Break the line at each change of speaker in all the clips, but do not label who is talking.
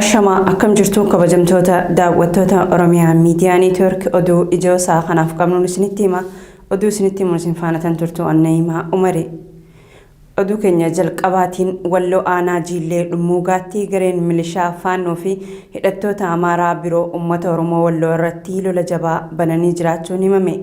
Ashamaa akkam jirtu kabajamtoota daawwattoota Oromiyaa Miidiyaa Neetwoork oduu ijoo isaa kanaaf qabnuun isinitti hima. Oduu isinitti himuun isin faana tan turtu Annayimaa Umari. Oduu keenya jalqabaatiin walloo aanaa jiillee dhummuugaatti gareen milishaa faannoo fi hidhattoota Amaaraa biroo uummata Oromoo walloo irratti lola jabaa bananii jiraachuun himame.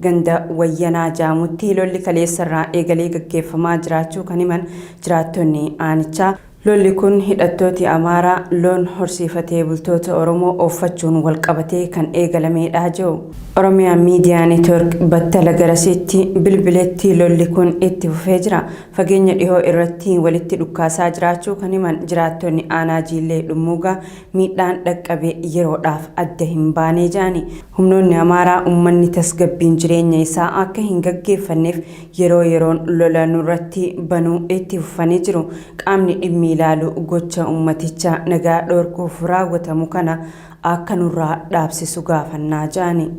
Ganda wayyanaa jaamutti lolli kaleessarraa eegalee gaggeeffamaa jiraachuu kan himan jiraattonni aanichaa. Lolli kun hidhattooti Amaaraa loon horsiifatee bultoota Oromoo ooffachuun wal qabatee kan eegalameedha je'u. Oromia Media Network battala garasiitti bilbiletti lolli kun itti fufee jira. Fageenya dhihoo irratti walitti dhukkaasaa jiraachuu kan himan jiraattonni aanaa Jiillee Dhummuugaa miidhaan dhaqqabe yeroodhaaf adda hin baanee ja'ani. Humnoonni Amaaraa ummanni tasgabbiin jireenya isaa akka hin gaggeeffanneef yeroo yeroon lola nurratti banuu itti fufanii jiru. Qaamni dhimmi ilaalu gocha ummaticha nagaa dhorkuuf raawwatamu kana akka nurraa dhaabsisu gaafanna jedhani.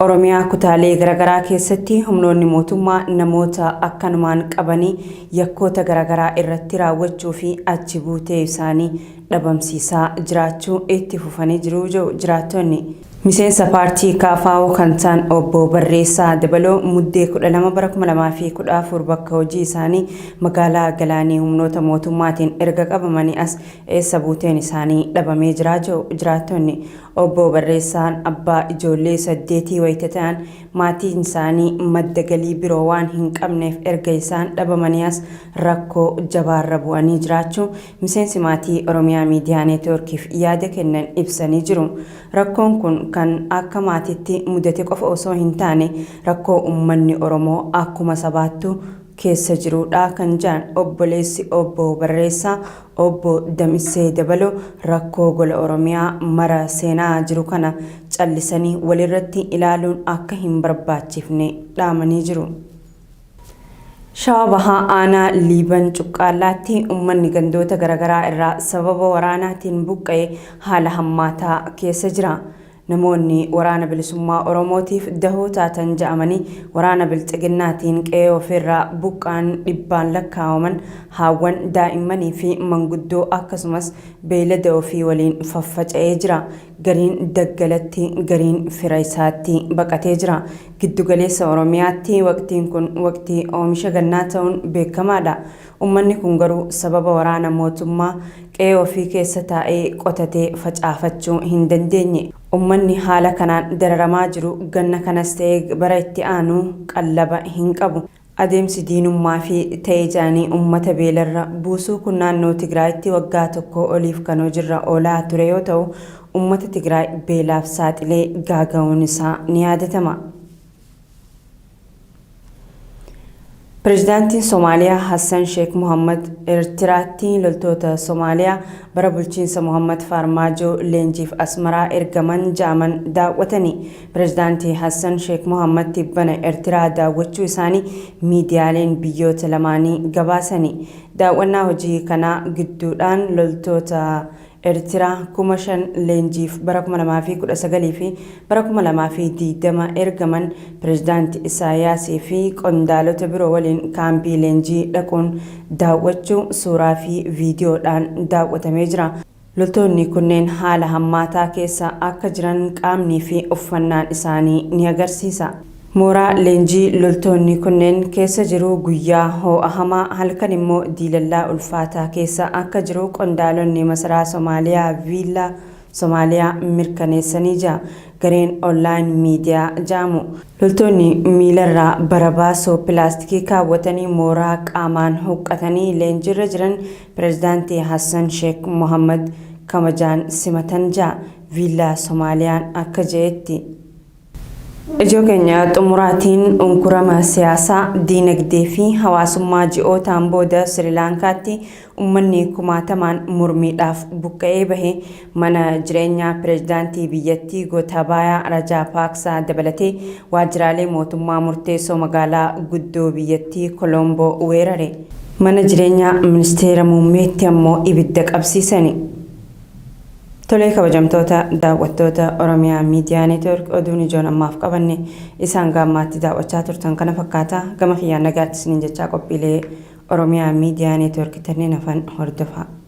Oromiyaa kutaalee garagaraa keessatti humnoonni mootummaa namoota akkanumaan qabanii yakkoota garagaraa irratti raawwachuu fi achi buutee isaanii dhabamsiisaa jiraachuu itti fufanii jiru jedhu jiraattonni. Miseensa paartii KFO kan ta'an Obbo Barreessaa Dabaloo Muddee 12 bara 2014 bakka hojii isaanii magaalaa Galaanii humnoota mootummaatiin erga qabamanii as eessa buuteen isaanii dhabamee jira jedhu jiraattonni. Obbo Barreessaan abbaa ijoollee saddeetii wayita ta'an maatiin isaanii madda galii biroo waan hin qabneef erga isaan dhabamanii as rakkoo jabaarra bu'anii jiraachuu miseensi maatii Oromiyaa Miidiyaa Neetwoorkiif yaada kennan ibsanii jiru. Rakkoon kun kan akka maatiitti mudate qofa osoo hin taane rakkoo ummanni Oromoo akkuma sabaattuu keessa jiruu dha kan jedhan obboleessi obbo Barreessaa obbo Damissee Dabaloo rakkoo gola Oromiyaa mara seenaa jiru kana callisanii walirratti ilaaluun akka hin barbaachifne dhaamanii jiru. Shawaa Bahaa Aanaa Liiban Cuqqaallaatti ummanni gandoota garagaraa irraa sababa waraanaatiin buqqa'e haala hammaataa keessa jira. Namoonni Waraana Bilisummaa Oromootiif dahoo taatan ja'amanii waraana Bilxiginnaatiin qe'ee ofiirraa buqqa'an dhibbaan lakkaa'aman haawwan, daa'immanii fi manguddoo akkasumas beeylada ofii waliin faffaca'ee jira. Gariin daggalatti, gariin fira isaatti baqatee jira. Giddu galeessa Oromiyaatti waqtiin kun waqtii oomisha gannaa ta'uun beekamaadha. Ummanni kun garuu sababa waraana mootummaa qe'ee ofii keessa taa'ee qotatee facaafachuu hin dandeenye. Ummanni haala kanaan dararamaa jiru ganna kanas ta'ee bara itti aanu qallaba hin qabu. Adeemsi diinummaa fi ta'e ja'anii ummata beelarra buusuu kun naannoo Tigraayitti waggaa tokkoo oliif kan hojirra oolaa ture yoo ta'u, ummata Tigraay beelaaf saaxilee gaaga'uun isaa ni yaadatama. Pirezidaantiin Somaaliyaa Hassan Sheek Mohaammad Eertiraatti loltoota Somaaliyaa bara bulchiinsa Mohaammad Faarmaajoo leenjiif Asmaraa ergaman ja'aman daawwatani. Pirezidaanti Hassan Sheek Mohaammad tibbana Ertiraa daawwachuu isaanii miidiyaaleen biyyoota lamaanii gabaasani. Daaw'annaa hojii kanaa gidduudhaan loltoota Ertiraa kuma shan leenjiif bara 2019 fi bara 2020 ergaman Pirezidaanti Isaayaas fi qondaalota biroo waliin kaampii leenjii dhaquun daawwachuu suuraa fi viidiyoodhaan daawwatamee jira. Loltoonni kunneen haala hammaataa keessa akka jiran qaamnii fi uffannaan isaanii ni agarsiisa. Mooraa leenjii loltoonni kunneen keessa jiru guyyaa hoo'a hamaa, halkan immoo diilallaa ulfaataa keessa akka jiru qondaalonni masaraa Somaaliyaa Viilla Somaaliyaa mirkaneessanii ja gareen Online Media ja'amu. Loltoonni miilarraa barabaasoo pilaastikii kaawwatanii mooraa qaamaan huqqatanii leenjiirra jiran Pirezidaanti Hassan Sheek Mohaammad kabajaan simatan ja'a Viillaa Somaaliyaan akka je'etti. Ijoo keenya xumuraatiin unkurama siyaasaa, diinagdee fi hawaasummaa ji'ootaan booda Sirilaankaatti ummanni kumaatamaan mormiidhaaf buqqa'ee bahe Mana jireenyaa pireezidaantii biyyattii Gootaabaayaa Rajaapaaksaa dabalatee waajjiraalee mootummaa murteessoo magaalaa guddoo biyyattii Koloomboo weerare. Mana jireenyaa ministeera muummeetti ammoo ibidda qabsiisani. Tolee kabajamtoota daawwattoota Oromiyaa Miidiyaa Neetwork oduun ijoon ammaaf qabanne isa hanga ammaatti daawwachaa turtan kana fakkaata. Gama kiyyaan nagaatti isiniin jechaa qophiilee Oromiyaa Miidiyaa Neetwork tanneen hafan hordofaa.